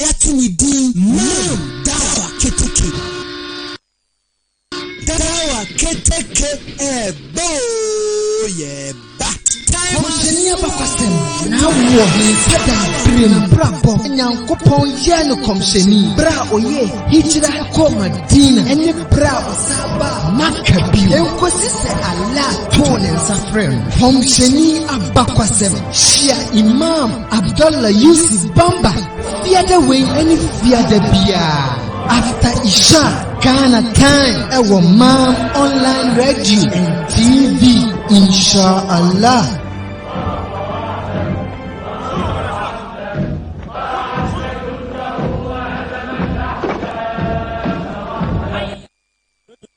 yɛato ne din Maam Dawa Keteke. Dawa Keteke ɛɛba oo yɛɛba. Kɔmhyɛni abakɔsɛm na awo wɔ he Adam berɛ mu? Abrabɔ, Nyankopɔn yɛɛ no kɔmhyɛni berɛ a ɔyɛɛ Hijra kɔɔ Madina ne berɛ a ɔsan baa Makka bio ɛnkɔsi sɛ Allah too ne nsa frɛɛ no. Kɔmhyɛni abakɔsɛm hyia Imam Abdallah Yusuf Bamba fiada wei ne fiada biara after Isha Ghana time ɛwɔ Mam Online Radio and TV inshallah.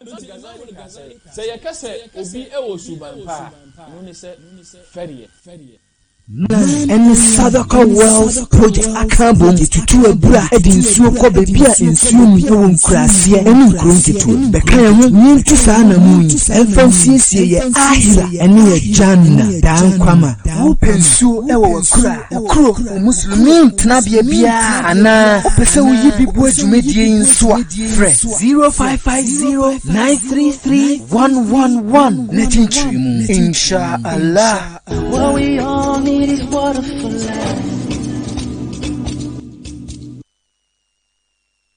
Enti Ghazali ka sɛ, sɛ yɛka sɛ obi wɔ suban pa a, ɛno ne sɛ fɛreɛ. Man ne Sadaka Wells Project aka abom de tutu abura de nsuo kɔ baabi a nsuo nni wɔ nkuraaseɛ ne nkuro nketewa mu. Bɛka yɛn ho na yɛntu saa anammɔn yi mfa nsiesie yɛn Ahira ne yɛn Jannah daa nkwa ma. Wopɛ nsuo wɔ w'akuraa? Wo kuro, wo musulumi tenabea biara anaa wopɛ sɛ woyi bi boa dwumadie yi nso a, frɛ 0550-933-111 na kyinkyiri mu. Insha Allah. What we all need is water for life.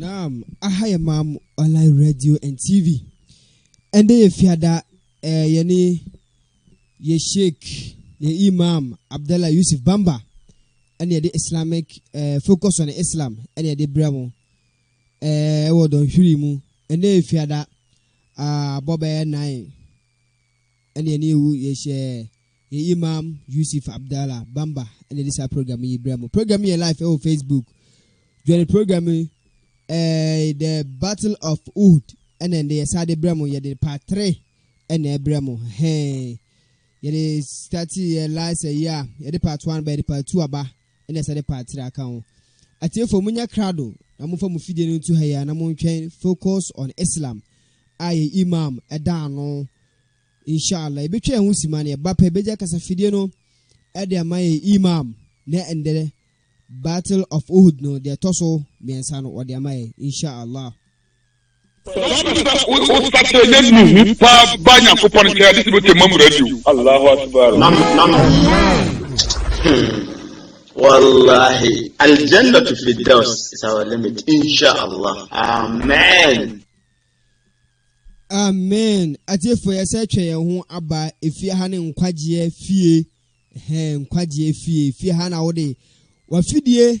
Naam, aha yɛ Maam Online Radio and TV. Ɛndɛ yɛ fiada ɛɛ yɛne yɛ Sheikh, yɛ Imam Abdallah Yusuf Bamba ɛne yɛde Islamic ɛɛ eh, focus on Islam ɛne yɛde brɛ mo ɛɛ eh, ɛwɔ dɔnhwiri mu. Ɛndɛ yɛ fiada abɔ ah, bɛyɛ nine. ɛne yɛn awu yɛhyɛ yɛn imam yusuf abdallah bamba ɛne de saa program yi brɛ mo program yɛ live ɛwɔ facebook join program yi eh, the battle of wood ɛna ɛde yɛsa de brɛ mo yɛde part 3 ɛna ɛbrɛ mo hɛn yɛde start yɛ live sɛ yi a yɛde part 1 ba yɛde part 2 aba na ɛsɛ de pa tra ka ho. Atiefo, monyɛ krado na momfa mo fidie no nto ha yi ara na montwɛn Focus on Islam a yɛn Imam da ano. Inshallah, yɛbɛtwa yɛn ho sima na yɛba pɛ bɛgya kasafidie no de ama yɛn Imam na ɛndɛ Battle of Uhud no deɛ ɛtɔ so mmiɛnsa no wɔde ama yɛn. Inshallah. wosakra na nuhu paa ba nyankopɔn nkyɛn ade sɛ bɛtwa ma mmara bio allahu akbar wallahi aljannatu firdaus is our limit inshallah amen amen atiefo yɛ sɛ twɛ yɛn ho aba efie ha ne nkwagyeɛ fie hɛn nkwagyeɛ fie fie ha na wode wafidie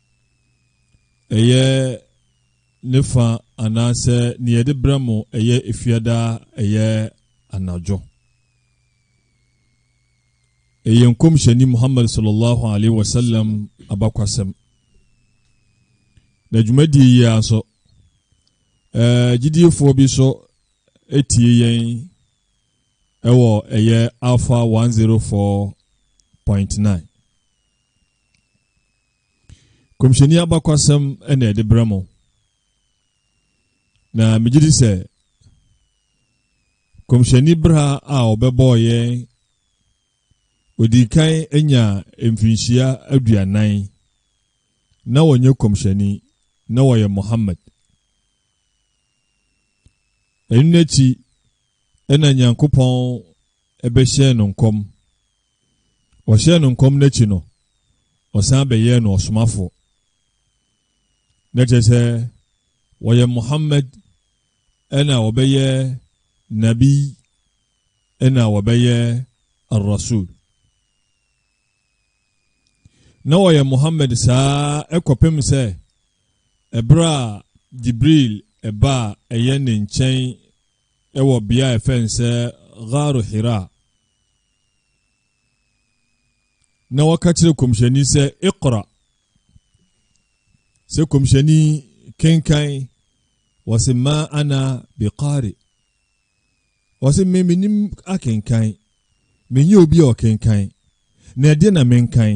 ɛyɛ ne fa anaasɛ nea yɛde brɛ mo ɛyɛ efiada ɛyɛ anadwo ɛyɛ nkɔmhyɛni muhammad sallallahu alaihi wasallam abakwasɛm na dwumadie yi ara nso ɛɛ gyidiefoɔ bi nso etie yɛn ɛwɔ ɛyɛ alpha one zero four point nine Kɔmhyɛni abakwasɛm na ɛde brɛ mo. Na megye di sɛ kɔmhyɛni bra a ɔbɛbɔɔ yɛn ɔdii kan anya mfirinhyia aduanan na wɔnyɛ kɔmhyɛni na wɔyɛ Muhammad. Ɛno n'akyi na Nyankopɔn ɛbɛhyɛn no nkɔm Wɔhyɛɛ no nkɔm no akyi no, wɔsan bɛyɛɛ no ɔsomafo. Na kyerɛ sɛ wɔyɛ Muhammad ɛna wɔbɛyɛ Nabi ɛna wɔbɛyɛ Ar-Rasul. Na wɔyɛ Muhammad saa ɛkɔpem sɛ ɛberɛ a Jibril ɛbaa ɛyɛ ne nkyɛn Wɔ bea a yɛfrɛ no sɛ Ghaaru Hiraa, na wɔka kyerɛ kɔmhyɛni sɛ ikra sɛ kɔmhyɛni kenkan wɔse ma ana biqari wɔse me menim akenkan menyɛ obi a ɔkenkan na ɛdeɛ na menkan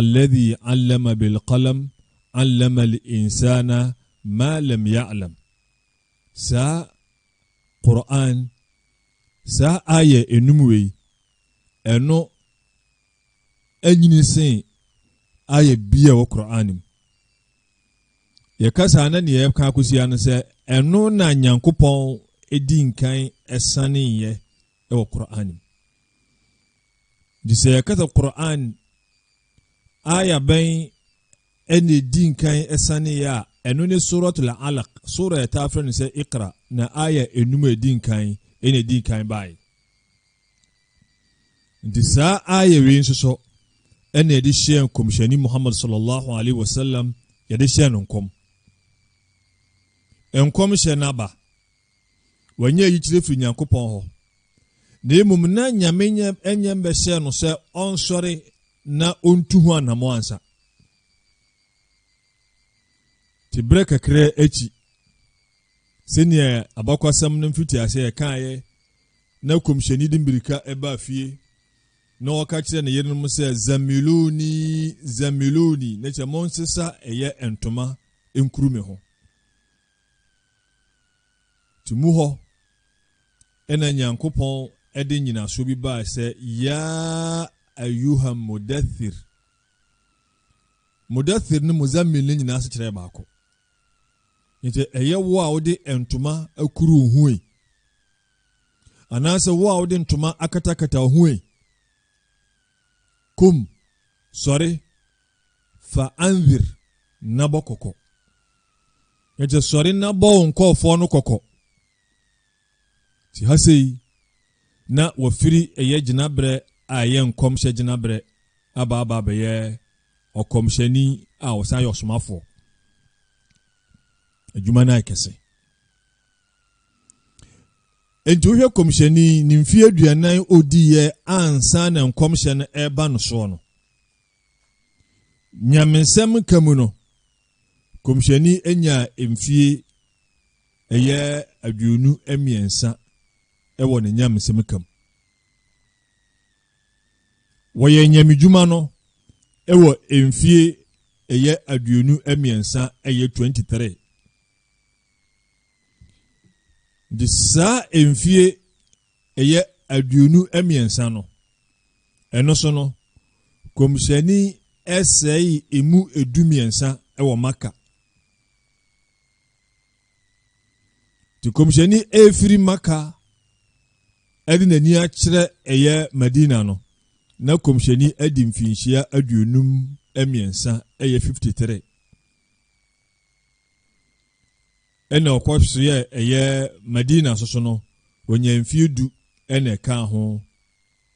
Alladhi allama bil qalam allama al insana ma lam ya'lam Saa Qur'aan, saa aayɛ nnum wei, ɛno anyini sen aayɛ biaa wɔ Qur'aan mu. Yɛka saa na neɛ ɛka akɔsia no sɛ ɛno na Nyankopɔn di nkan ɛsaneeɛ wɔ Qur'aan mu. Nti sɛ yɛka sɛ Qur'an aya bɛn ɛna ɛdi nkan ɛsaneeɛ a, ɛno ne Suratul Alaq, sura a yɛtaa frɛ no sɛ Iqra, na aya enum a ɛdi nkan ɛna ɛdi nkan baeɛ. Nti saa aya wei nso so ɛna yɛde hyɛɛ nkɔmhyɛni Muhammad sallallahu alaihi wasallam yɛde hyɛɛ no nkɔm. Nkɔmhyɛ no aba Wanya yikyerɛ firi Nyankopɔn hɔ, na mmom na Nyame nyɛ mbɛhyɛɛ no sɛ ɔnsɔre na ɔntu ho anamɔ ansa. Te berɛ kakra akyi, sɛnea abakwasɛm no mfitiaseɛ ɛkaeɛ na kɔmhyɛni de mmirika ɛbaa fie na ɔka kyerɛ ne yerenom sɛ zamiluni zamiluni na kyɛ monsesa ɛyɛ ntoma nkuru me ho To mu hɔ na Nyankopɔn de nyinasoɔ bi baa sɛ yaa ayuha mudathir mudathir ne muzammil ne nyinaa sekyerɛ baako nti ɛyɛ wo a wode ntoma akuru wo ho yi anaasɛ wo a wode ntoma akatakata wo ho yi kum sɔre fa anwir na bɔ kɔkɔ Ɛnti sɔre na bɔ wo nkɔɔfoɔ no kɔkɔ. Ti ha sei na wɔfiri ɛyɛ gyinaberɛ a ɛyɛ nkɔmhyɛ gyinaberɛ aba aba abɛyɛ ɔkɔmhyɛni a ɔsan yɛ ɔsomafoɔ. Adwuma no ayɛ kɛse. Enti wohwɛ kɔmhyɛni ne mfeɛ aduanan odiiɛ ansa na nkɔmhyɛ no ɛreba no soɔ no, Nyamesɛm ka mu no, kɔmhyɛni nyaa mfie ɛyɛ aduonu mmiɛnsa wɔ ne nyamesɛm ka mu. Wɔyɛ nyamedwuma no wɔ mfie ɛyɛ aduonu mmiɛnsa ɛyɛ 23. Nti saa mfie ɛyɛ aduonu mmiɛnsa no, ɛno so no, kɔmhyɛni sɛe emu edu mmiɛnsa wɔ Maka. Nti kɔmhyɛni efiri Maka ɛde n'ani akyerɛ ɛyɛ Madina no, na kɔmhyɛni adi mfinhyia aduonum mmiɛnsa ɛyɛ 53. ɛna ɔkɔ so yɛ ɛyɛ Madina soso no, ɔnya mfie du ɛna ɛkaa ho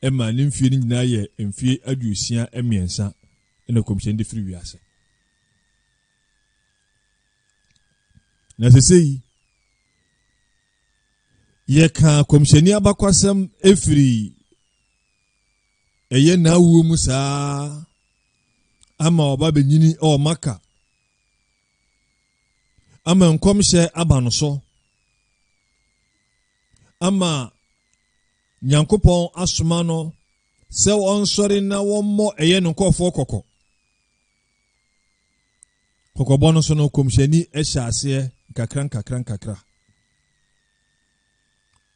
ɛma ne mfie no nyinaa yɛ mfie aduosia mmiɛnsa ɛna kɔmhyɛn de firi wiase. Na sese yi, yɛkaa kɔmhyɛni abakwasɛm ɛfiri ɛyɛ n'awuo mu saa ama ɔba bɛnyini ɔɔ maka ama nkɔmhyɛ aba no so ama nyankopɔn asoma no sɛ ɔnsɔre na wɔmmɔ ɛyɛ no nkɔfoɔ kɔkɔ kɔkɔbɔ no so no kɔmhyɛni hyɛ aseɛ nkakra nkakra nkakra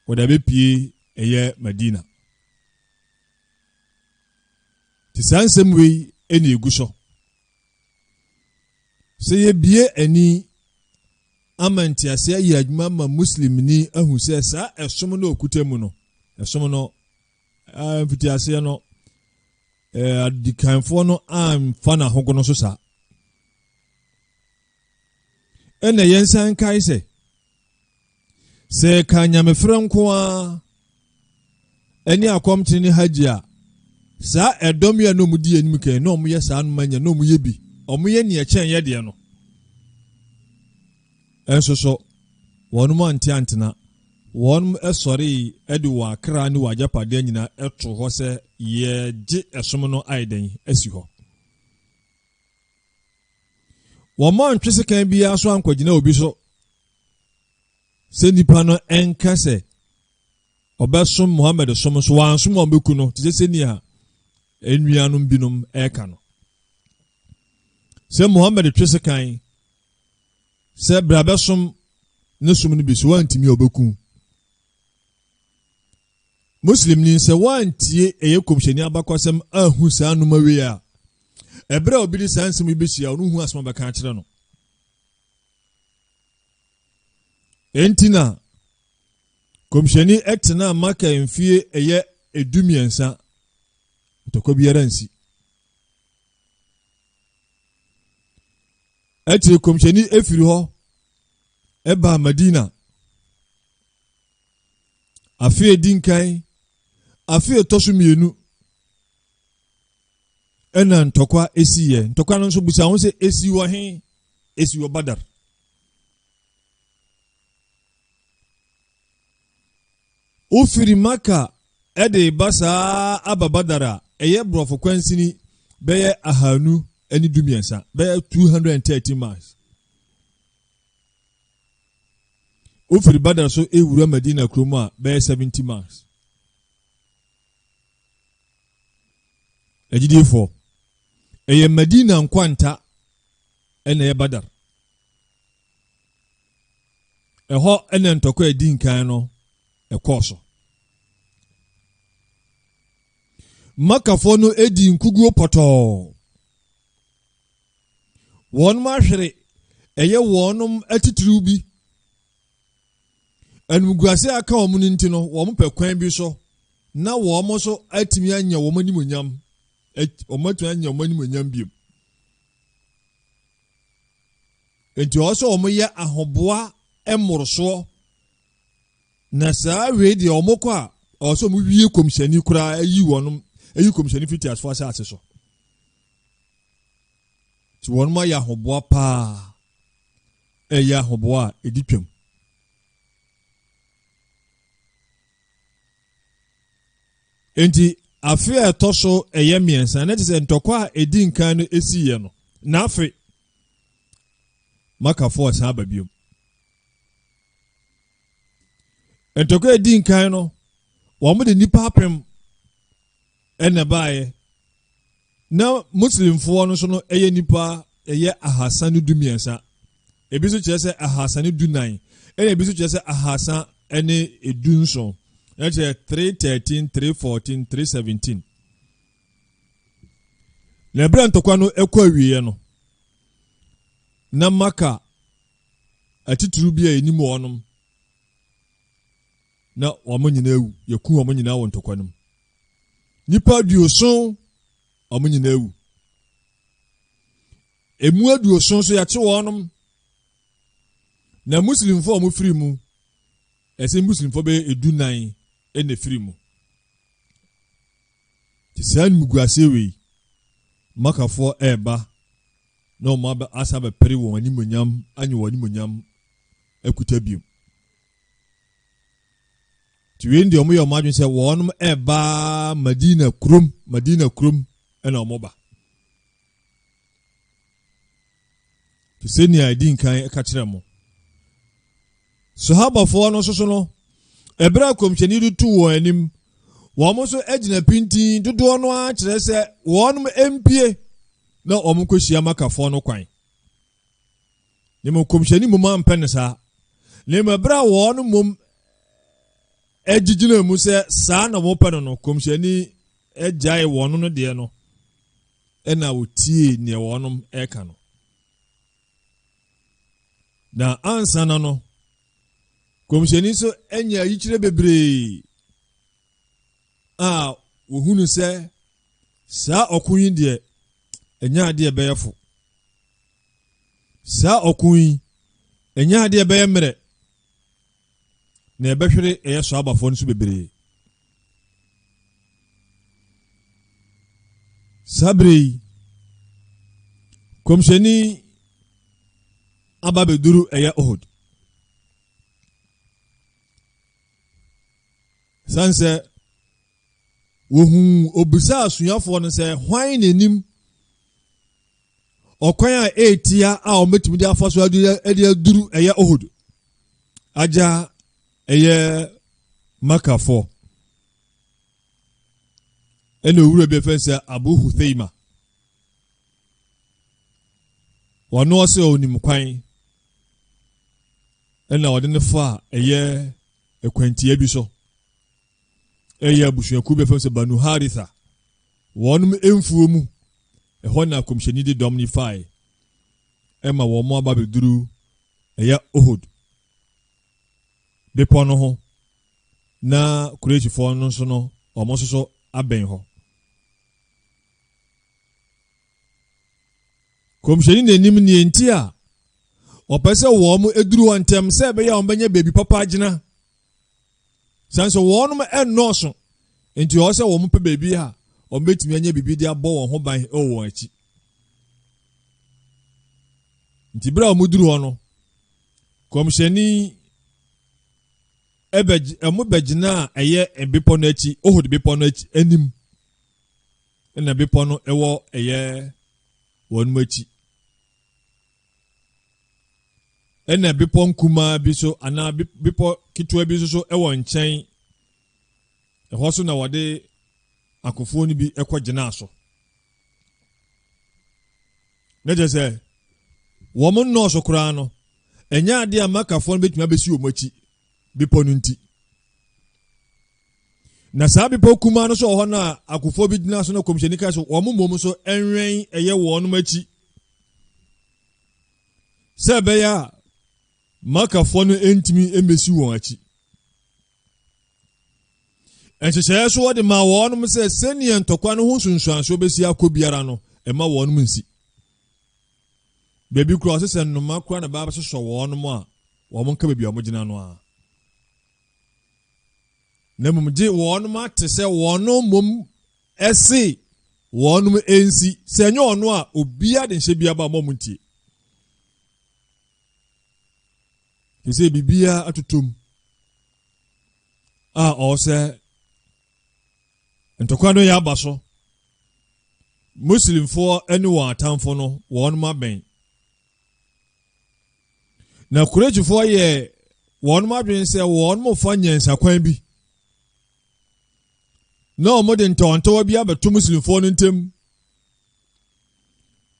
wɔde abɛpie ɛyɛ madina nti saa nsɛm wei ɛne ɛgu so Sɛ yɛbie ani ama ntease ayɛ adwuma ma Muslimni ahu sɛ saa ɛsom no ɔkuta mu no, ɛsom no mfitiaseɛ no, adikanfoɔ no amfa no ahogono so saa. ɛna yɛnsan nkae sɛ sɛ ɛka nyamefrɛ nko ara ɛne akɔmtene ne hagye a saa ɛdɔm yi a na wɔn di anim kan na wɔn yɛ saa anoma nya na wɔn yɛ bi wɔn yɛ nea ɛkyɛn yɛ deɛ no ɛnso so wɔn mu ante antena wɔn sɔre de wɔn akra ne wɔn agyapadeɛ nyinaa ɛto hɔ sɛ yɛgye ɛsom no ayɛ dɛn asi hɔ. Wɔmma ɔntwe sekan biara so ankɔgyina obi so sɛ nipa no ɛnka sɛ ɔbɛsom Muhammad som so wansom a ɔbɛku no te sɛ sɛnea nnuanom binom ɛreka no sɛ Muhammad twe sekan sɛ bra bɛsom ne som no bi so wantumi a ɔbɛku Muslimni, sɛ woantie ɛyɛ Kɔmhyɛni abakɔsɛm anhu saa nnoma wei a, ɛberɛ a obi de saa nsɛm yi bɛhyia wo no hu asɛm a bɛka akyerɛ no. Enti na Kɔmhyɛni ɛtenaa Maka mfie ɛyɛ edu mmiɛnsa ntɔkwa biara nsi akyire Kɔmhyɛni efiri hɔ ɛbaa Madina Afe a edi nkan, afe a ɛtɔ so mmienu, ɛna ntɔkwa esiiɛ. Ntɔkwa no nso bisa ho sɛ esi wɔ he? Esi wɔ Badar. Wofiri Maka ɛde ba saa aba Badar a ɛyɛ borɔfo kwansini bɛyɛ ahanu ne dumiɛnsa bɛyɛ 230 miles. Wofiri Badr so rewura Madina kurom a, bɛyɛ 70 miles. Agyidiefo, ɛyɛ Madina nkwanta ɛna ɛyɛ Badr. Ɛhɔ ɛna ntɔkwa a ɛdi nkan no ɛkɔɔ so. Makafoɔ no edi nkuguo pɔtɔɔ. wɔahwere ɛyɛ wɔn atitiriw bi. Animguase a aka wɔn no nti no, wɔpɛ kwan bi so na wɔn nso atumi anya wɔn animonyam. Wɔatumi anya wɔn animonyam bio. Nti ɔwɔ sɛ wɔyɛ ahoboa mmorosoɔ na saa wei deɛ wɔkɔ a ɔwɔ sɛ wɔwie kɔmhyɛni koraa ayi wɔn ayi kɔmhyɛni fiti asefo asase so. Nti wɔnom ayɛ ahoboa paa, ɛyɛ ahoboa a ɛdi twam. Nti afe a ɛtɔ so ɛyɛ mmiɛnsa na te sɛ ntɔkwa a ɛdi nkan no ɛsiiɛ no na afe makafoɔ ɛsan aba biom ntɔkwa ɛdi nkan no wɔn de nnipa apem ɛna ɛbaeɛ na muslimfoɔ no nso no ɛyɛ nipa ɛyɛ ahasa ne du mmiɛnsa ebi nso kyerɛ sɛ ahasa ne du nan ɛna ebi nso kyerɛ sɛ ahasa ne edu nson ɛkyɛ three thirteen three fourteen three seventeen na ɛbrɛ ntɔkwa no ɛkɔ awieɛ no na maka atitiriw bi a ɛnim wɔnom na wɔn nyinaa awu yɛku wɔn nyinaa wɔ ntɔkwa no mu Nnipa aduoson, wɔn nyinaa awu. Emu aduoson so yɛkye wɔnom. Na Muslimfo a wɔfiri mu, ɛsɛ Muslimfo bɛyɛ edunan na ɛfiri mu. Te saa animguaseɛ wei, Makafoɔ ɛreba na wɔn asa bɛpere wɔn animonyam anye wɔn animonyam akuta biom. Nti wei no deɛ wɔyɛ wɔn adwene sɛ wɔnom ɛreba Madina kurom, Madina kurom ɛna wɔn ba. Te sɛ nea ɛdi nkan ɛka kyerɛ mo. Sahabafoɔ no soso no, ɛberɛ a kɔmhyɛni de tu wɔn anim, wɔn nso agyina pintin dodoɔ no ara kyerɛ sɛ wɔnom mpie na wɔn kɔhyia makafoɔ no kwan. na mmom kɔmhyɛni mmom ampɛ no saa na mmom ɛberɛ a wɔn mmom agyigyina mu sɛ saa na wɔpɛ no no kɔmhyɛni agyae wɔn no deɛ no ɛna wɔtie neɛ wɔnom ɛka no na ansa na no kɔmhyɛni nso anya ayikyerɛ bebree a wɔhunu sɛ saa ɔko yi deɛ ɛnyɛ adeɛ ɛbɛyɛ fo saa ɔko yi ɛnyɛ adeɛ ɛbɛyɛ mmerɛ na ɛbɛhwere ɛyɛ so abafoɔ no so bebree saa bere yi kɔmhyɛni aba bɛduru ɛyɛ ohod Ɛsiane sɛ wɔhuu obisaa asuafoɔ no sɛ hwan na anim ɔkwan a ɛretia a wɔbɛtumi de afa so de aduru ɛyɛ ohod agya ɛyɛ makafoɔ ɛna owura bi fɛn sɛ abu hutheima wɔne ɔsɛ onim kwan ɛna ɔde no fa a ɛyɛ akwantia bi so ɛyɛ abusuakuo bi fam sɛ banu haritha wɔnom mfuo mu ɛhɔ na akɔmhyɛni de dɔm no fae ɛma wɔn aba bɛduru ɛyɛ ohod bepɔ no ho na kuresifoɔ no nso no wɔn nso so abɛn hɔ Kɔmhyɛni na anim nea enti a ɔpɛ sɛ wɔn duru hɔ ntɛm sɛ ɛbɛyɛ a wɔbɛnya baabi papa agyina sɛn so wɔn nnɔɔso nti ɔwɔ sɛ wɔn pɛ baabi a wɔbɛtumi anya biribi de abɔ wɔn ho ban wɔ wɔn akyi nti berɛ a wɔduru hɔ no kɔmhyɛni ɛbɛgyina a ɛyɛ bepɔ no akyi ohod bepɔ no akyi anim na bepɔ no wɔ ɛyɛ wɔn akyi ɛna bepɔ nkumaa bi so anaa bepɔ ketewa bi nso so wɔ nkyɛn ɛhɔ so na wɔde akofoɔ no bi kɔ gyinaa so ne kyɛ sɛ wɔn nnɔɔso koraa no ɛnyɛ adeɛ a makafoɔ no bɛtumi abɛsi wɔn akyi bepɔ no nti na saa bepɔ kumaa no so wɔ hɔ no a akofoɔ bi gyina so no kɔmhyɛni ka so wɔn mmom so ɛnwɛn ɛyɛ wɔn akyi sɛ ɛbɛyɛ a makafoɔ no ntumi mmɛsi wɔn akyi nhyehyɛeɛ so wɔde maa wɔn sɛ sɛnea ntɔkwa no ho nsunsuansoɔ bɛsi akɔ biara no ɛma wɔn nsi Baabi koraa ɔse sɛ nnoma koraa na ɛbaa bɛsosɔ wɔnom a, wɔn nka baabi a wɔgyina no ara. Na mmom gye wɔnom ate sɛ wɔnom mmom ɛse wɔnom ɛnsi. Sɛ ɛnyɛ ɔno a, obiara de nhyɛ biara ba wɔn a wɔn ntie. Te sɛ biribiara atotom a ɔwɔ sɛ Ntɔkwa no yɛ aba so. Muslimfoɔ ne wɔn atamfo no, wɔn abɛn. Na Kureihyifoɔ yɛ wɔn adwene sɛ wɔn mofa nyansakwan bi na wɔde ntɔwantɔwa bi abɛto Muslimfoɔ no ntam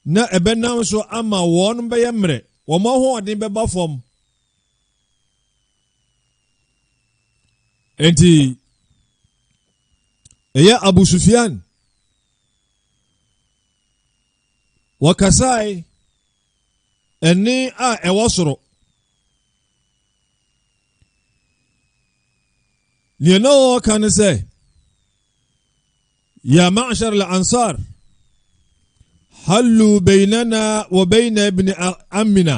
na ɛbɛnam so ama wɔn bɛyɛ mmerɛ, wɔn ahoɔden bɛba fam. Enti, ɛyɛ Abu Sufyan. Wɔkasae ɛne a ɛwɔ soro. Nea na wɔreka ne sɛ, Ya ma'ashar al-ansar, hallu bainana wa baina ibn amina.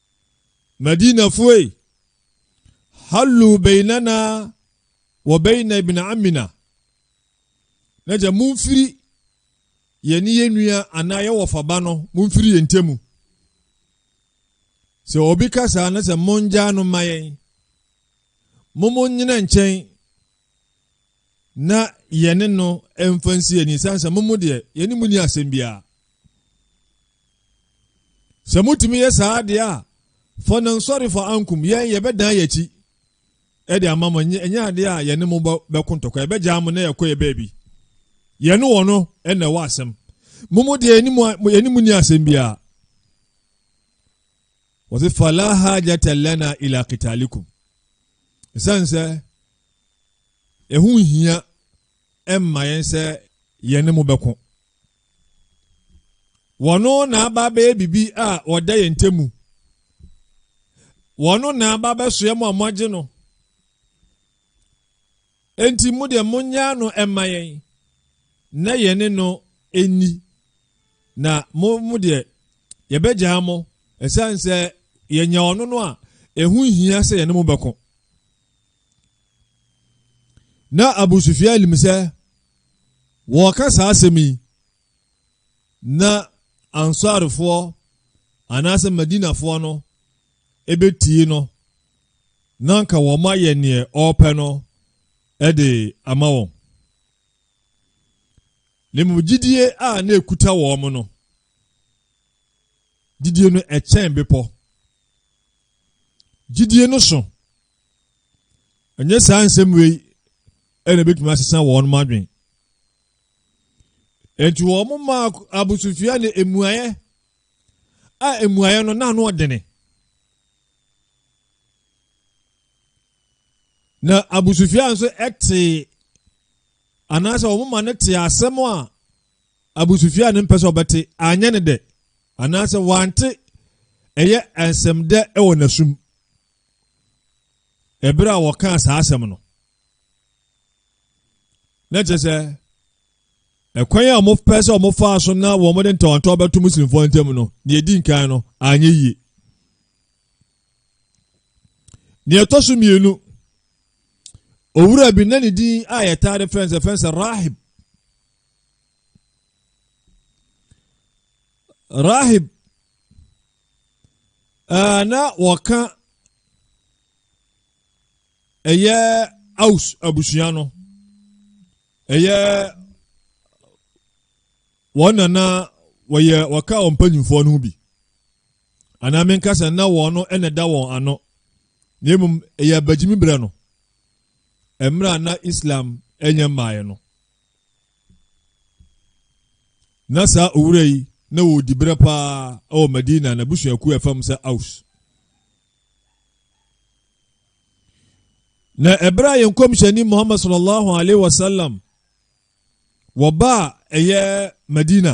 Madinafo ei! Hallu bainana wa baina ibn ammina na gya momfiri yɛne yɛn nua anaa yɛn wɔfaba no momfiri yɛn ntamu sɛ obi ka saa na sɛ mongyaa no ma yɛn mo mo nyina nkyɛn na yɛne no mfa nsi ani ɛsiane sɛ momo deɛ yɛne mu ni asɛm biara sɛ motumi yɛ saa deɛ a fɔ no nsɔre fɔ ankum yɛn yɛbɛdan yɛakyi ɛde ama mo ɛnyɛ adeɛ a yɛne mo bɛko ntɔkwa yɛbɛgyaa mo na yɛkɔ yɛ baabi yɛne wɔ no ɛna ɛwɔ asɛm momo deɛ yɛne mu ni asɛm biara wɔse fala hajata lana ila kitalikum ɛsiane sɛ ɛho hia ɛmma yɛn sɛ yɛne mo bɛko wɔno na aba bɛyɛ biribi a wɔda yɛn ntamu wɔno na aba bɛsoɛ mo a moagye no Enti mo deɛ monyaa no mma yɛn na yɛne no nni, na mo mo deɛ yɛbɛgyaa mo ɛsiane sɛ yɛnya ɔno no a ɛho hia sɛ yɛne mo bɛko. Na Abu Sufyan nim sɛ wɔka saa asɛm yi na Ansarfoɔ anaasɛ Madinafoɔ no ebetie no, na anka wɔma yɛ neɛ ɔɔpɛ no de ama wɔn. Na mmom gyidie a na ekuta wɔn no, gyidie no ɛkyɛn bepɔ. Gyidie no so. Ɛnyɛ saa nsɛm wei ɛna ebetumi asesa wɔn mo adwene. Enti wɔn maa abosofia ne emuayɛ a mmuaeɛ no n'ano ɔdene. Na abusufia nso tee anaasɛ wɔn ma no tee asɛm a abusufia no mpɛ sɛ ɔbɛte anyɛ no dɛ anaasɛ wante ɛyɛ nsɛm dɛ wɔ n'asum ɛberɛ a wɔkaa saa asɛm no na kyerɛ sɛ ɛkwan a wɔpɛ sɛ wɔfaa so na wɔde ntawantɔw bɛto muslimfoɔ ntam no deɛ ɛdi nkan no anyɛ yie deɛ ɛtɔ so mmienu owura bi na ne din a yɛtaa de frɛ nsɛ frɛ nsɛ rahib rahib ɛɛ na wɔka ɛyɛ aus abusua no Ɛyɛ wɔn na na wɔyɛ wɔka wɔn mpanyinfoɔ no ho bi anaa menka sɛ na wɔn no na ɛda wɔn ano na mmom ɛyɛ abagyimi berɛ no mmerɛ a na islam ɛnyɛ mmaeɛ no na saa owura yi na wɔdi berɛ paa ɛwɔ madina na busuakuo ɛfam sɛ aus na ɛberɛ a yɛn kɔmhyɛni muhammad sallallahu alaihi wasallam wɔba a ɛyɛ madina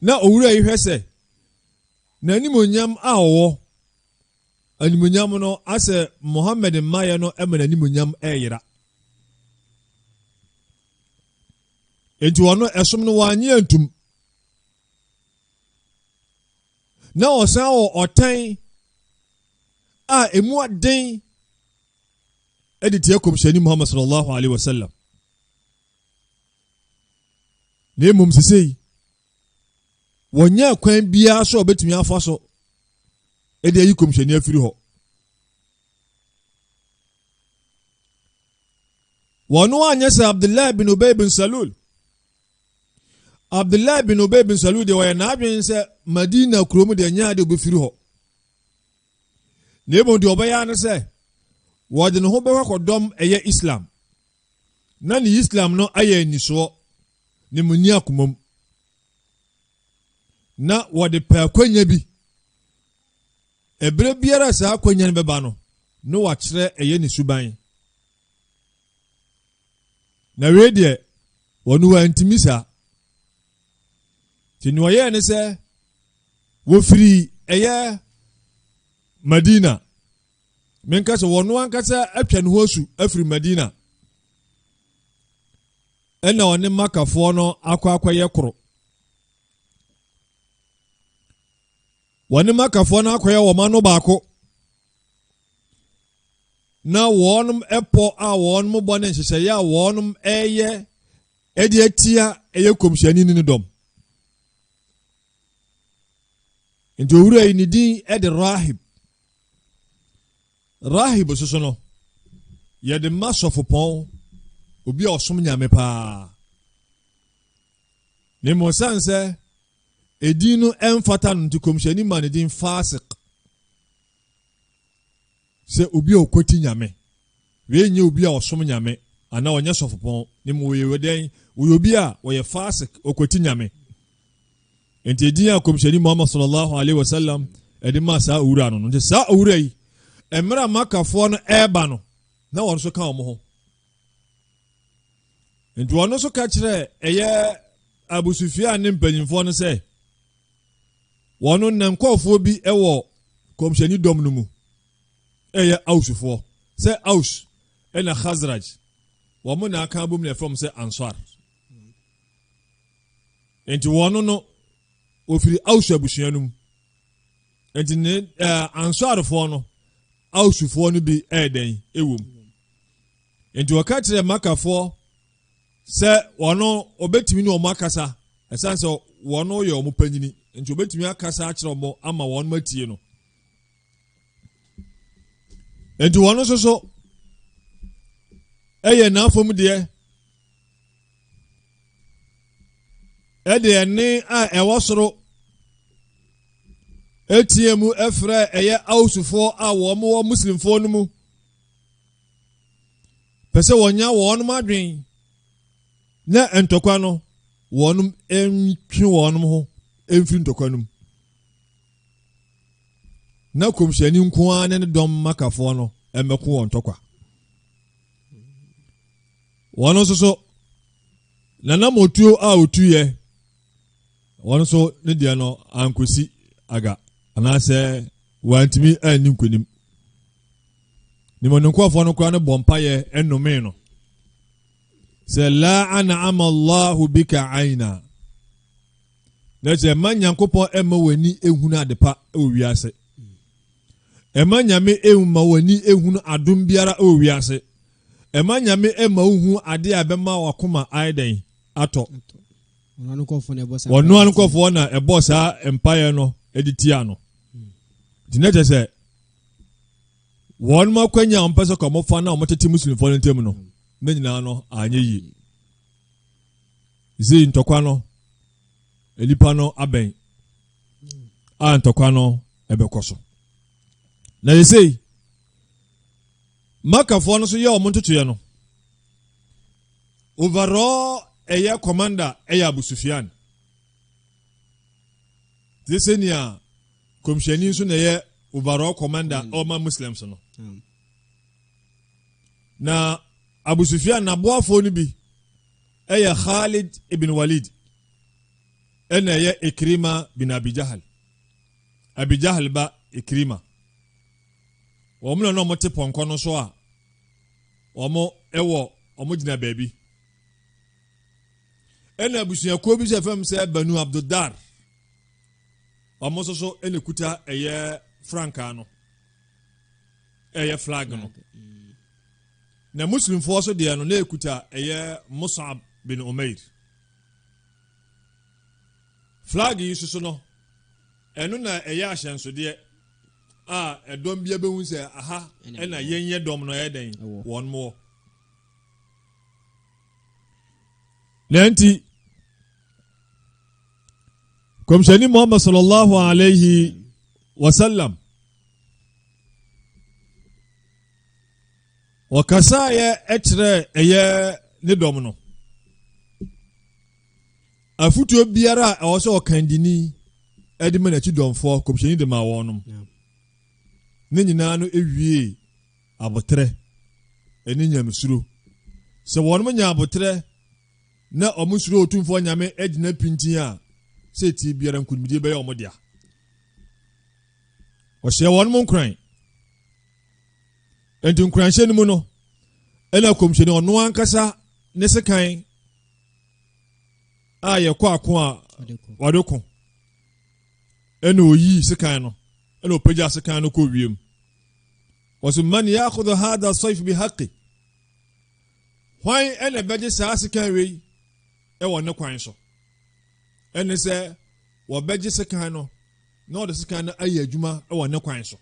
na owura yi hwɛ sɛ n'animonyam a ɔwɔ animonyam no asɛ muhammad mmaeɛ no ma n'animonyam ɛyera nti ɔno ɛsom no wanyɛ ntum na wɔsan wɔ ɔtan a emu aden de tia kɔmhyɛni muhammad sallallahu alaihi wasallam na mmom sesei wɔnyɛ kwan biara so a wɔbɛtumi afa so de ayi kɔmhyɛni afiri hɔ wɔn anyɛ sɛ abdullahi bin ubay bin salul Abdullah bin Ubay bin Salul deɛ ɔyɛ n'adwene sɛ Madina kurom deɛ nyɛ adeɛ obɛfiri hɔ na mmom deɛ ɔbɛyɛ ano sɛ wɔde ne ho bɛkɔ akɔdɔm ɛyɛ Islam na ne Islam no ayɛ anisoɔ ne mu ni akomam na wɔde pɛ akwanya bi ɛberɛ biara saa akwanya no bɛba no na wakyerɛ ɛyɛ ne suban Na wei deɛ wɔn wɔantumi saa nti nea ɔyɛɛ ne sɛ wɔfiri ɛyɛ madina menka sɛ wɔn ankasa atwa ne ho asu afiri madina ɛna ɔne makafoɔ no akɔ akɔyɛ koro wɔne makafoɔ no akɔyɛ wɔn ano baako na wɔn pɔ a wɔn bɔ ne nhyehyɛeɛ a wɔn ɛyɛ ɛde atia ɛyɛ kɔmhyɛni ne ne dɔm nti owura yi ne din ɛde rahib rahib soso no yɛde ma sɔfopɔn obi a ɔsom nyame paa ne mmom sane sɛ edin no ɛmfata no nti kɔmhyɛni ma ne din Fasiq sɛ obi a ɔkwati nyame wei nyɛ obi a ɔsom nyame anaa ɔnyɛ sɔfopɔn ne mu wɔyɛ wɔdɛn wɔyɛ obi a ɔyɛ Fasiq ɔkwati nyame nti edin a kɔmhyɛni Muhammad sallallahu alaihi wasallam ɛde maa saa owura no no nti saa owura yi mmerɛ makafoɔ no ɛreba no na wɔn nso ka wɔn ho nti ɔno nso ka kyerɛ ɛyɛ abusufia ne mpanyinfoɔ no sɛ wɔn no nkɔɔfoɔ bi wɔ kɔmhyɛni dɔm no mu ɛyɛ ausufoɔ sɛ aus ɛna khazraj wɔn na aka abom na ɛfam sɛ ansar nti wɔn no ofiri aus abusua no mu nti ne ɛɛ ansarfoɔ no. Ausfoɔ no bi yɛ dɛn wom. Enti wɔka kyerɛ Makafoɔ sɛ wɔn wɔbɛtumi ne wɔn akasa ɛsiane sɛ wɔn yɛ wɔn panyini nti wɔbɛtumi akasa akyerɛ wɔn ama wɔn atie no. Enti wɔn nso so ɛyɛ n'afam deɛ ɛde ɛne a ɛwɔ soro etie mu ɛfrɛ ɛyɛ awusufoɔ a wɔn wɔ muslimfoɔ no mu pɛ sɛ wɔnya wɔn adwen na ntɔkwa no wɔn ntwe wɔn ho mfiri ntɔkwa no mu na kɔmhyɛni nko ara ne ne dɔm makafoɔ no mmɛko wɔn ntɔkwa. Wɔn nso so, nanam otuo a otuiɛ, wɔn nso ne deɛ no ankosi aga anaasɛ wɔantumi anni nkonim. Nimɔdenkorɔfoɔ no koraa no bɔ mpayɛ ɛnomee no sɛ la ana ama allahu bika aina na sɛ ɛma nyankopɔn ɛma w'ani ehunu adepa ɛwɔ wiase ɛma nyame ɛma w'ani ehunu adom biara ɛwɔ wiase Ɛma Nyame mma wo hu adeɛ a ɛbɛma w'akoma ayɛ dɛn? Atɔ. Ɔno ara nkorɔfoɔ na ɛbɔ saa mpaeɛ. Ɔno ara nkorɔfoɔ na ɛbɔ saa mpaeɛ no de tia no. Nti na kyerɛ sɛ wɔn akwanya a wɔn pɛ sɛ kɔn fa na wɔn tete muslimfoɔ no ntam no ne nyinaa no anyɛ yie. Zi ntɔkwa no nipa no abɛn a ntɔkwa no ɛbɛkɔ so. Na yɛsei Makafoɔ no so yɛ wɔn ntotoeɛ no overall ɛyɛ commander ɛyɛ Abu Sufyan te sɛ nea kɔmhyɛni nso na ɛyɛ overall commander mm. ɔma Muslims no mm. na Abu Sufyan n'aboafoɔ no bi ɛyɛ Khalid ibn Walid ɛna ɛyɛ Ikrima bin Abi Jahal Abi Jahal ba Ikrima wɔn na wɔte pɔnkɔ no so a wɔwɔ wɔgyina baabi ɛna abusuakuo bi sɛ fam sɛ banu abdodar wɔn nso so ɛna kuta ɛyɛ frankaa no ɛyɛ flag no mm. na muslimfoɔ so deɛ no na ɛkuta ɛyɛ musab bin umair flag yi soso no ɛno na ɛyɛ ahyɛnsodeɛ a ɛdɔm bia bɛhu sɛ aha ɛna yɛnyɛ dɔm no ɛyɛ dɛn wɔn mowɔ na nti kɔmhyɛni muhammad sallallahu alaihi wasallam wɔkasaeɛ kyerɛ ɛyɛ ne dɔm no Afotuo biara a ɛwɔ sɛ ɔkandini de ma n'akyi dɔmfoɔ kɔmhyɛni de ma wɔn nom. Ne nyinaa no ewiee aboterɛ ne nyamesuro. Sɛ wɔn nya aboterɛ na wɔn suro otumfoɔ nyame agyina pintin a, sɛ etie biara nkonimdie bɛyɛ wɔn dea. Ɔhyɛ wɔn mo nkoran. Enti nkoranhyɛ no mu no, ɛna kɔmhyɛni ɔno ankasa ne sekan a yɛkɔ ako a wɔde ko ɛna oyii sekan no ɛna ɔpagya sekan no kɔ wiem wɔso man yaakodo hada sɔif bi haqi hwan ɛna ɛbɛgye saa sekan wei ɛwɔ ne kwan so ɛne sɛ wɔbɛgye sekan no na ɔde sekan no ayɛ adwuma ɛwɔ ne kwan so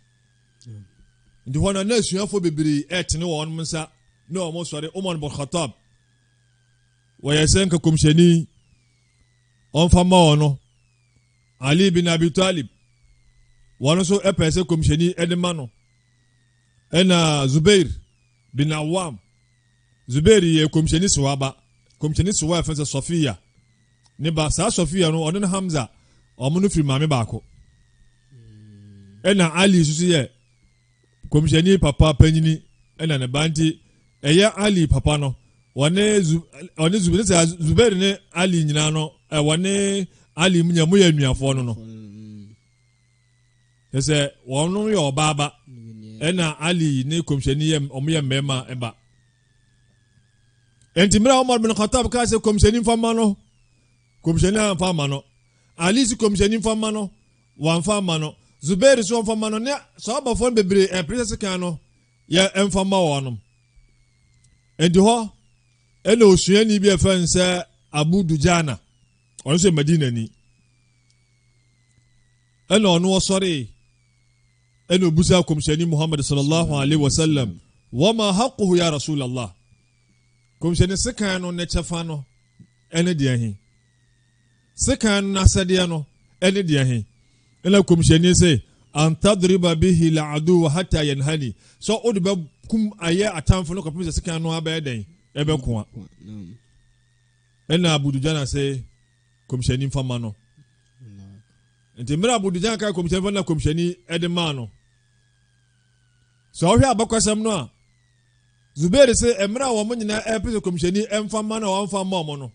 nti hɔ no na asuafoɔ bebree ɛtene wɔn nsa na wɔn sɔre omar bɔkhatab wɔyɛ sɛ nka kɔmhyɛni ɔmfa mma wɔn no ali bin abi talib wɔn nso pɛɛ sɛ kɔmhyɛni de ma no ɛna zubair bin awam zubair yɛ kɔmhyɛni sowa ba kɔmhyɛni sowa ɛfɛ sɛ sɔfiya ne ba saa sɔfiya no ɔne no hamza wɔn no firi maame baako ɛna ali nso yɛ Kɔmhyɛni papa panyini na ne ba nti ɛyɛ Ali papa no wɔne zu wɔne zu ne sɛ Zubair ne Ali nyinaa no ɛ wɔne Ali mu nyɛ mu yɛ nuafoɔ no no ne sɛ wɔn no yɛ ɔbaaba ɛna Ali ne kɔmhyɛni yɛ wɔn yɛ mmarima ɛba nti mmerɛ Omar bin Khattab kaa sɛ kɔmhyɛni nfa ma no kɔmhyɛni anfa ma no Ali si kɔmhyɛni nfa ma no wɔamfa amma no. Zubair nso wɔamfa amma no, ne Sɔhabafoɔ no bebree ɛmpene sɛ sekan no yɛ mfa mma wɔnom. Enti hɔ ɛna osuani bi a ɛfɛ no sɛ Abu Dujana, ɔno nso yɛ Madinani. Ɛna ɔno ɔsɔree ɛna obusa kɔmhyɛni Muhammad sallallahu alaihi wasallam, wama haquhu ya Rasulallah. Kɔmhyɛni sekan no ne kyɛfa no ɛne deɛ he. Sekan no asɛdeɛ no ne deɛ he? Nna Komhyɛni se, An tadriba bihi la'aduwa hatta yanhani, sɛ wode bɛkum ayɛ atamfo no kɔpem sɛ sekan no ara bɛyɛ dɛn? Ɛbɛko a. Nna Abu Dujana se, Komhyɛni mfa ma no. Nti mmerɛ Abu Dujana kae Komhyɛni fa na Komhyɛni de maa no. Sɛ ɔhwɛ abakɔsɛm no a, Zubair se mmerɛ a wɔn nyinaa ɛpɛ sɛ Komhyɛni mfa ma no a wɔmfa ma wɔn no,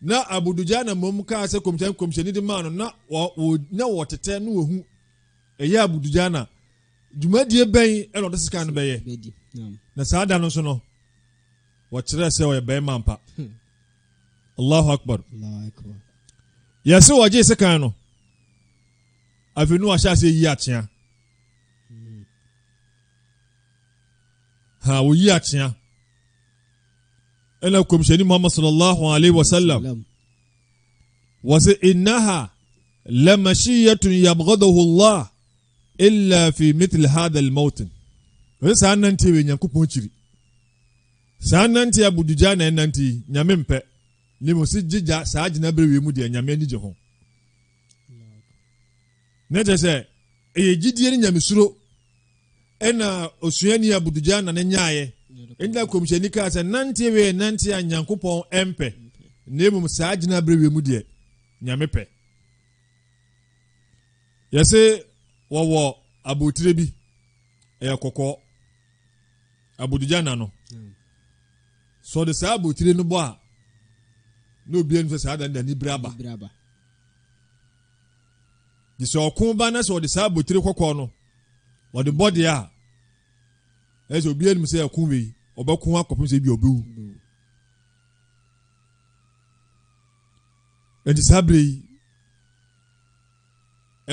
na Abudujah na mmom kaa sɛ kɔmhyɛn kɔmhyɛni de maa no na na wɔtetɛ na wɔhu ɛyɛ Abudujah na dwumadie bɛn ɛna ɔde sika no bɛyɛ na saa da no nso no wɔkyerɛ sɛ ɔyɛ bɛrima mpa hmm. allahu akbar yɛse wɔgye sekan no afei ne wahyɛ aseɛ yi akyea hmm. ha wɔyi akyea ɛna kɔmhyɛni muhammad sallallahu alaihi wasallam wɔse innaha lamashiyatun yabghadahu llah illa fi mitl hadha almawtin ɛsɛ saa nante wɔ nyankopɔn kyiri saa nante a budugya na ɛnante yi nyame mpɛ ne mu se gyegya saa gyina bere wei mu deɛ nyame ani gye ho na kyerɛ sɛ ɛyɛ gyidie ne nyamesuro ɛna osuani abudugya na ne nyaayɛ ɛna kɔmhyɛni kaa sɛ nante wei nante a nyankopɔn ɛmpɛ na mmom saa gyina berɛ wei mu deɛ nyame pɛ yɛse wɔwɔ abotire bi ɛyɛ kɔkɔɔ abudugya na no sɛ ɔde saa abotire no bɔ a na obiara nim sɛ saa da no da ne biri aba Nti sɛ ɔko ba na sɛ ɔde saa abotire kɔkɔɔ no ɔde bɔ deɛ a ɛyɛ sɛ obi anim sɛ ɛko wei ɔbɛko akɔpem sɛ ebi ɔbɛwu nti saa bere yi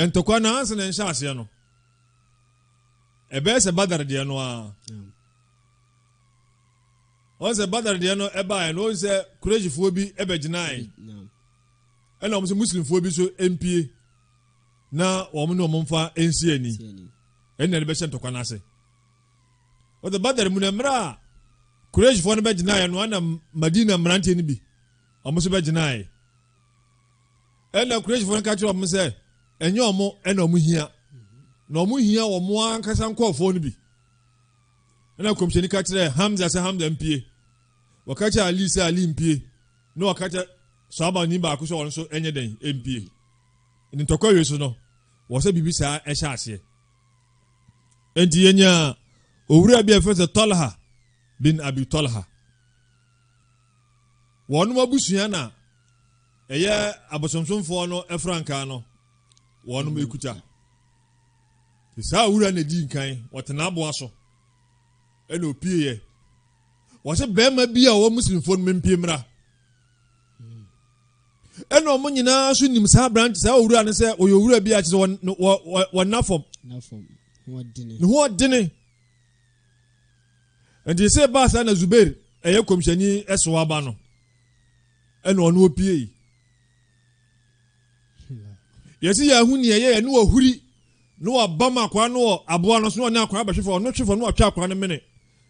ntɔkwa no ansa na nhyɛ aseɛ no ɛbɛyɛ sɛ badar deɛ no a wɔn sɛ badar deɛ no ɛbaeɛ no wɔn sɛ kuresifoɔ bi ɛbɛgyinae. Ɛna wɔn sɛ muslimfoɔ bi nso mpie na wɔn ne wɔn mfa nsi ani ɛna ɛde bɛhyɛ ntɔkwa n'ase wɔde badar mu na mmerɛ a kureshfoɔ no bɛgyinaeɛ no ana madina mmeranteɛ no bi wɔn nso bɛgyinaeɛ ɛna kureshfoɔ no ka kyerɛ wɔn sɛ ɛnyɛ wɔn ɛna wɔn hia na wɔn hia wɔn ankasa nkɔɔfoɔ no bi ɛna kɔmhyɛni ka kyerɛ hamza sɛ hamza mpie wɔka kyerɛ ali sɛ ali mpie na ɔka kyerɛ saa ɔmanni baako sɛ ɔno nso nyɛ dɛn mpue. Enti ntɔkwa wie so no, wɔ sɛ biribi saa ɛhyɛ aseɛ. Enti yɛnyaa owura bi a ɛfɛ sɛ Talha bin Abi Talha. Wɔnom abusua na ɛyɛ abosomsomfoɔ no frankaa no wɔnom ɛkuta. Saa owura na ɛdi nkan, wɔtena aboa so, ɛna opieɛ. wɔse barima bi a ɔwɔ muslimfoɔ no mempie mmra ɛna ɔmo nyinaa nso nim saa aberante saa owura no sɛ ɔyɛ owura bi a kyerɛ sɛ wɔna fam ne ho ɔdene nti sɛ baa saa na zubair ɛyɛ kɔmhyɛni ɛso aba no ɛna ɔno opiei yɛsi yɛn ho nea ɛyɛ yɛn ne ɔhuri na wabam akwaa no wɔ aboa no so na ɔne akwaa bɛhwe fam ɔno hwe fam na watwa akwaa no mene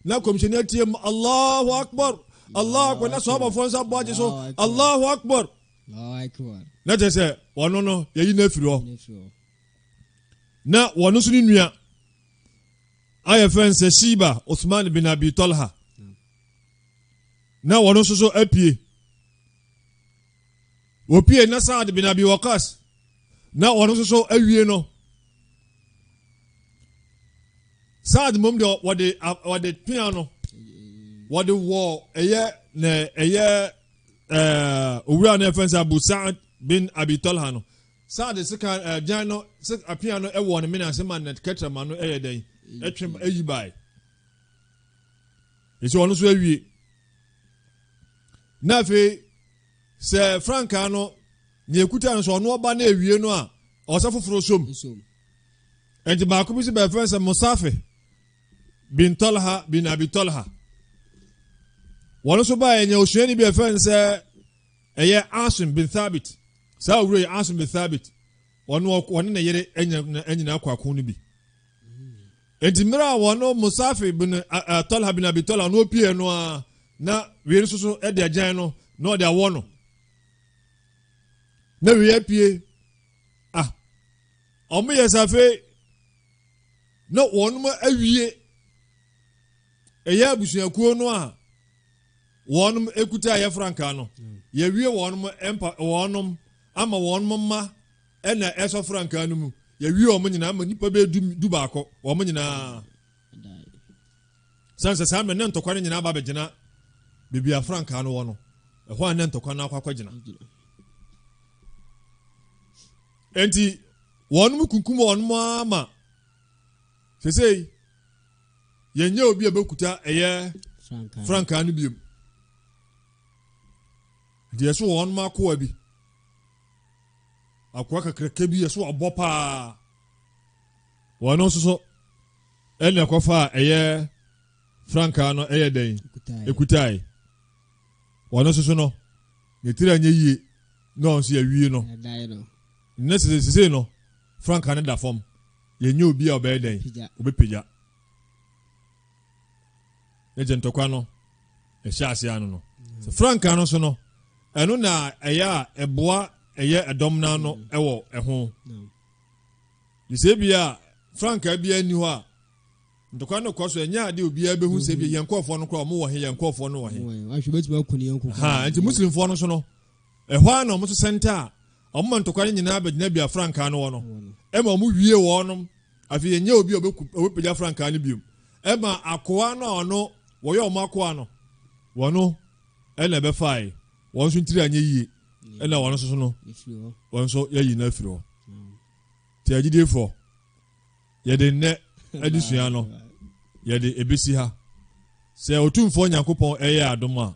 na kɔmhyɛni atie mu allahu akbar allahu akbar na sɔhabafoɔ nsa bɔ agye so allahu akbar na kyerɛ sɛ ɔno no yɛyi no afiri hɔ na wɔno nso ne nua ayɛ fɛn sɛ shiba osman bin abi tolha na wɔno nso so apue Wopiee na Saad bin Abi Waqqas na ɔno nso so awie no. Saad mmom deɛ wɔde wɔde pea no wɔde wɔ ɛyɛ na ɛyɛ ɛɛ owura no ɛfɛn sɛ Abu Saad bin Abi Talha no Saad sika ɛɛ gyan no sɛ apea no ɛwɔ ne mene ase ma ne kɛtɛrɛ ma no ɛyɛ dɛn ɛtwem ɛyi baae esi ɔno nso awie na afei. Sɛ frankaa no, nea ekuta no, sɛ ɔno ɔba na ewie no a, ɔsɛ foforo som. Enti baako bi si bɛfrɛ sɛ Musafi bin Talha bin Abi Talha. Wɔn nso baa ɛnyɛ osuani bi ɛfrɛ no sɛ ɛyɛ Asim bin Thabit. Saa owura yi Asim bin Thabit, ɔno ɔne ne yere nyinaa kɔ ako no bi. Enti mmerɛ a wɔn Musafi bin Tɔlha bin Abi Tɔlha no ɔpieɛ no ara na wei nso so de agyan no na ɔde awɔ no na wei apue ah wɔn yɛ sɛ afei na wɔn awie ɛyɛ abusuakuo no a wɔn ekuta ɛyɛ frankaa no yɛwie wɔn mpa wɔn ama wɔn mma Ɛna ɛsɔ frankaa no mu. Yɛwie wɔn nyinaa ama nnipa bɛyɛ du du baako wɔn nyinaa. Sɛn sɛ saa mmerɛ ne ntɔkwa no nyinaa ba bɛgyina baabi a frankaa no wɔ no. Ɛhɔ a ne ntɔkwa no akɔ akɔgyina. Enti wɔn mu kunkum wɔn mu ama sesei yɛnyɛ obi a bɛkuta ɛyɛ frankaa no biom deɛ so wɔn mu akoa bi akoa kakraka bi a so wabɔ paa. Wɔ no nso so, ɛne ɛkɔfa a ɛyɛ frankaa no ɛyɛ dɛn ekutae. Wɔ no nso so no, ne tiri anyɛ yie na ɔn so yɛwie no. Ne sese sese no, frankaa no da fam. Yɛnyɛ obi a ɔbɛyɛ dɛn? Ɔbɛpagya. ne gye ntɔkwa no ɛhyɛ ase ano no sɛ frankaa no so no ɛno na ɛyɛ a ɛboa ɛyɛ ɛdɔm no ano ɛwɔ ɛho de sɛ bi a frankaa biara nni hɔ a ntɔkwa no kɔ so ɛnyɛ ade obiara bɛhu sɛ bi yɛn nkurɔfoɔ no koraa ɔmo wɔ he yɛn nkurɔfoɔ no wɔ he nti muslimfoɔ no so no Ɛhɔ ara na wɔto sɛnta a wɔma ntɔkwa no nyinaa bɛgyina bia frankaa no wɔ no. Ɛma wɔwie wɔnom. Afei ɛnyɛ obi a ɔbɛpagya frankaa no biom. Ɛma akoa no a ɔno wɔyɛ wɔn akoa no, wɔno ɛna ɛbɛfae. Wɔn nso ntiri anyɛ yie. Ɛna wɔn nso so no, wɔn nso yɛyi no afiri hɔ. Nti agyidiefoɔ, yɛde nnɛ adesua no, yɛde ɛbɛsi ha. Sɛ Otumfoɔ Nyankopɔn ɛyɛ adom a,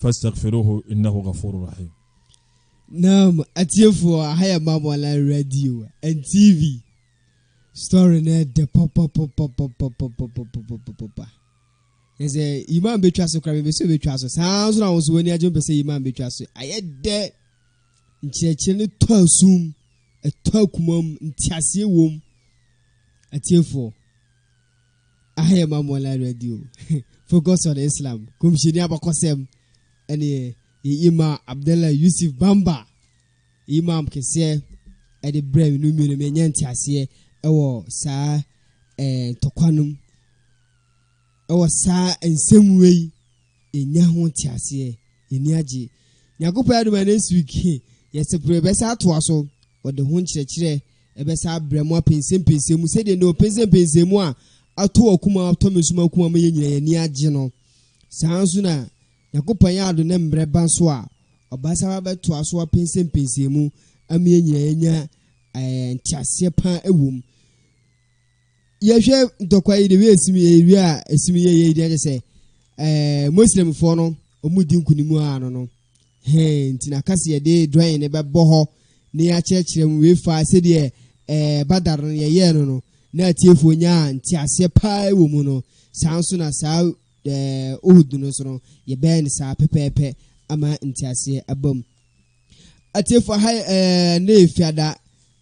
Fastaghfiruhu innahu ghafuru rahim. Naam atiefoɔ aha yɛ Mamoala radio and TV story no ɛdɛ papapapapapapapapapapa yɛ sɛ imam bɛtwa so kora mepɛ sɛ ɔbɛtwa so saa nso na wo nso w'ani agye mpɛ sɛ imam bɛtwa so ayɛ dɛ nkyerɛkyerɛ no tɔ asum ɛtɔ akumam nteaseɛ wom atiefoɔ Aha yɛ Mamma Online Radio, Focus on Islam, Kɔmhyɛni Abakɔsɛm, ɛne yɛ Imam Abdallah Yusuf Bamba, Imam kɛseɛ, ɛde brɛ me no mmienu menyɛ nteaseɛ ɛwɔ saa ɛɛ ntɔkwa nom, ɛwɔ saa nsɛm wei Yɛnya ho nteaseɛ, yɛani agye. Nyankopɔn adom a next week he yɛsepre yɛbɛsan atoa so, wɔde ho nkyerɛkyerɛ bɛsan abrɛ mo apɛnsɛmpɛnsɛm mu sɛdeɛ nnɛ ɔpɛnsɛmpɛnsɛm mu a ato w'akoma atɔ me nso m'akoma ama yɛn nyina yɛani agye no. Saa ara nso na Nyankopɔn ayɛ adom ne mmerɛ ba nso a ɔbɛsan aba abɛtoa so apɛnsɛmpɛnsɛm mu ama yɛn nyina yɛanya ɛɛ nteaseɛ paa wɔ mu. yɛhwɛ ntɔkwa yi de wi esim yɛ wi a esim yɛ yɛ di sɛ ɛɛ muslimfoɔ no wɔn di nkunim a ano no hɛn nti na kasa yɛde dɔn ne bɛbɔ hɔ ne yɛakyerɛkyerɛ mu wei fa sɛdeɛ ɛɛ badar no yɛyɛɛ no no na atiefoɔ nyaa nteaseɛ paa wɔ mu no saa nso na saa ɛɛ uhud no nso no yɛbɛyɛ no saa pɛpɛɛpɛ ama nteaseɛ abam Atiefo aha yɛ ɛɛ ne fiada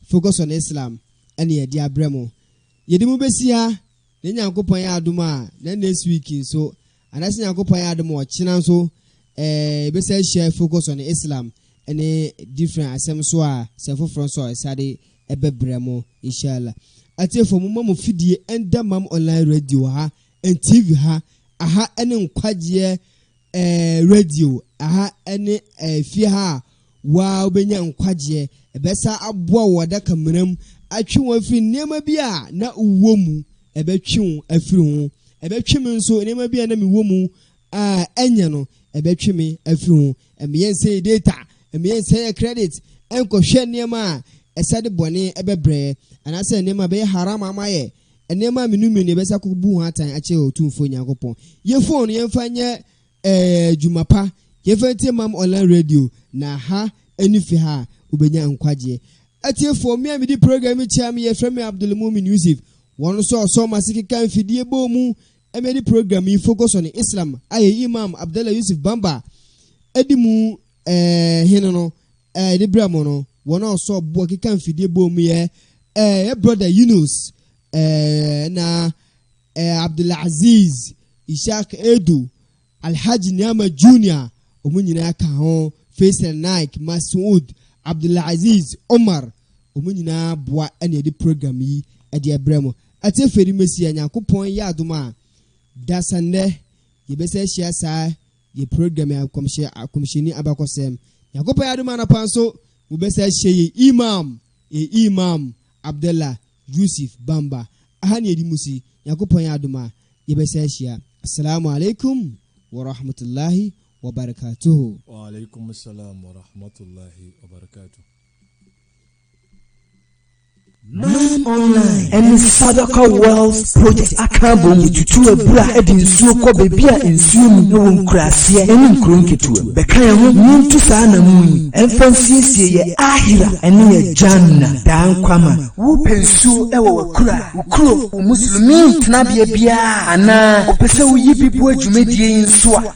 focus on Islam ɛne yɛde abrɛ mo. Yɛde mu bɛsi ha na Nyankopɔn yɛ adom a na next week nso anaasɛ Nyankopɔn yɛ adom a ɔkyena nso ɛɛ yɛbɛsa ahyia focus on Islam ɛne different asɛm so a sɛ foforɔ nso a ɛsade ɛbɛbrɛ mo inshallah. Atiefo mo ma mo fidie ɛnda mam online radio ha and TV ha aha ɛne nkwagyeɛ eh, radio aha ne eh, fie ha a waa wobɛnya nkwagyeɛ. Ɛbɛsa aboa wo adaka mmara mu, atwe wo afiri nneɛma bi a na wowɔ mu, ɛbɛtwe wo afiri ho. Ɛbɛtwe me nso, nneɛma bi a na mewɔ mu a ɛnyɛ no, ɛbɛtwe me afiri ho. Ɛmeyɛ nsɛ yɛ data, ɛmeyɛ nsɛ yɛ credit, ɛnkɔhwɛ nneɛma a ɛsɛ de bɔne ɛbɛbrɛ, anaasɛ nneɛma a ɛbɛyɛ haram ama yɛ, Nneɛma a menu menu yɛbɛsa akɔ bu ho atan akyerɛ Otumfoɔ Nyankopɔn. Yɛ phone no yɛmfa nyɛ ɛɛ adwuma pa. Yɛmfa ntie Mam Online Radio na ha ɛne fi ha a wobɛnya nkwagyeɛ. Atiefoɔ, me a medi program yi kyɛm yɛfrɛ me Abdul Mumin Yusuf. Wɔn nso a ɔsɔ wɔn ase keka mfidie bɔɔ mu ɛma yɛde program yi focus on Islam a yɛn Imam Abdallah Yusuf Bamba ɛdi mu ɛɛ hene no Ɛɛ ne berɛ mu no, wɔn a wɔsɔɔ boɔ keka mfidie bɔɔ mu yɛ ɛɛ yɛ brɔda Yunus ɛɛ na ɛɛ Abdulaziz Ishaq Edu, Alhaji Niama Junior, wɔn nyinaa ka ho, Faisal Naik, Masoud, Abdulaziz Omar, wɔn nyinaa boa ɛna ɛde program yi ɛde ɛbrɛ mu. Ɛte afei de mɛsi a Nyankopɔn yɛ adom a, dasannɛ yɛbɛsɛ ahyia saa Yɛ program yi akɔmhyɛ akɔmhyɛni abakɔsɛm Nyankopɔn adom anɔpa nso mo bɛsa ahyia yɛn Imam yɛn Imam Abdallah Yusuf Bamba aha na yɛdi musi Nyankopɔn adom a yɛbɛsa ahyia Asalamu alaikum wa rahmatullahi wa barakatuhu. Wa alaikum salam wa rahmatullahi wa barakatuhu. Nine Online ne Sadaka Wells Project aka abom de tutu abura de nsuo kɔ baabi a nsuo nni wɔ nkuraaseɛ ne nkuro nketewa mu. Bɛka yɛn ho na yɛntu saa anammɔn yi mfa nsiesie yɛn Aakhira ne yɛn Jannah, daa nkwa ma. Wopɛ nsuo wɔ w'akuraa, wo kuro, wo Muslimiin tenabea biara a, anaa wopɛ sɛ woyi bi boa dwumadie yi nso a,